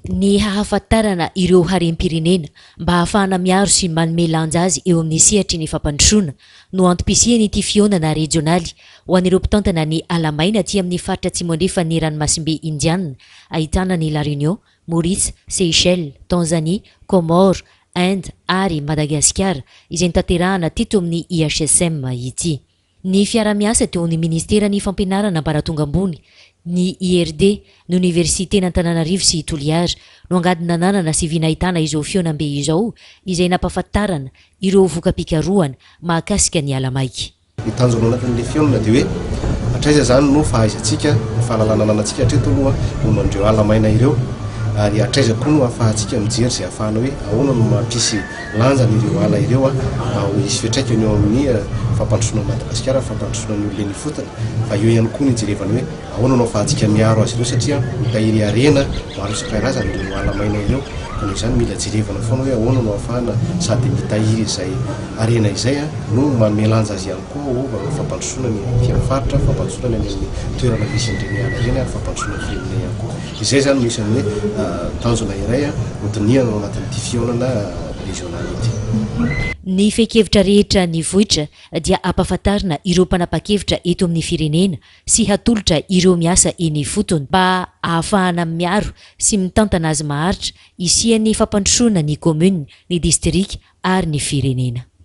Ny hahafantarana ireo harem-pirenena mba ahafahana miaro sy manome lanja azy eo amin'ny sehatry ny fampandrosoana no antom-pisian'ity fihaonana rejionaly ho an'ireo mpitantana ny ala maina aty amin'ny faritra atsimo-andrefan'ny ranomasimbe Indiana ahitana an'i La Réunion, Maurice, Seychelles, Tanzanie, Comores, Inde ary Madagasikara izay notanterahana teto amin'ny IHSM ity. Ny fiarahamiasa teo amin'ny Ministeran'ny Fampianarana Ambaratonga Ambony, ny IRD, ny Oniversiten'Antananarivo sy Toliara no angady nananana sy vy nahitana izao fihaonambe izao izay nampahafantarana ireo voka-pikarohana mahakasika ny ala maika. Ny tanjona anatin'ilay fihaonana dia hoe hatraiza izany no fahaizantsika, ny fahalalana ananantsika hatreto aloha momba an'ireo ala maina ireo ary hatraiza koa no ahafahantsika mijery izay hahafahana hoe ahoana no mampisy lanjany ireo ala ireo mba ho hisy fiantraikany eo amin'ny fampandrosoana an'i Madagasikara, ny fampandrosoana ny olona eny ifotony, fa eo ihany koa ny hijerevana hoe ahoana no hafahadika miaro azy ireo satria mitahiry harena maro isan-karazany ireo ala maina ireo ka noho izany mila jerevana foana hoe ahoana no hahafahana sady mitahiry izay harena izay no manome lanja azy ihany koa ho fampandrosoana ny fiainan'ny faritra, fampandrosoana ny any amin'ny toerana misy an'ireny ala ireny ary fampandrosoana ny firenena ihany koa. Izay izany no isan'ny hoe tanjona iray hodinihana ao anatin'ity fihaonana rezionaly ity. Ny fehin-kevitra rehetra nivoitra dia hampahafantarina ireo mpanapa-kevitra eto amin'ny firenena sy hatolotra ireo miasa eny ifotony mba hahafahana miaro sy mitantana azy maharitra hisian'ny fampandrosoana ny kaominina, ny distrika ary ny firenena.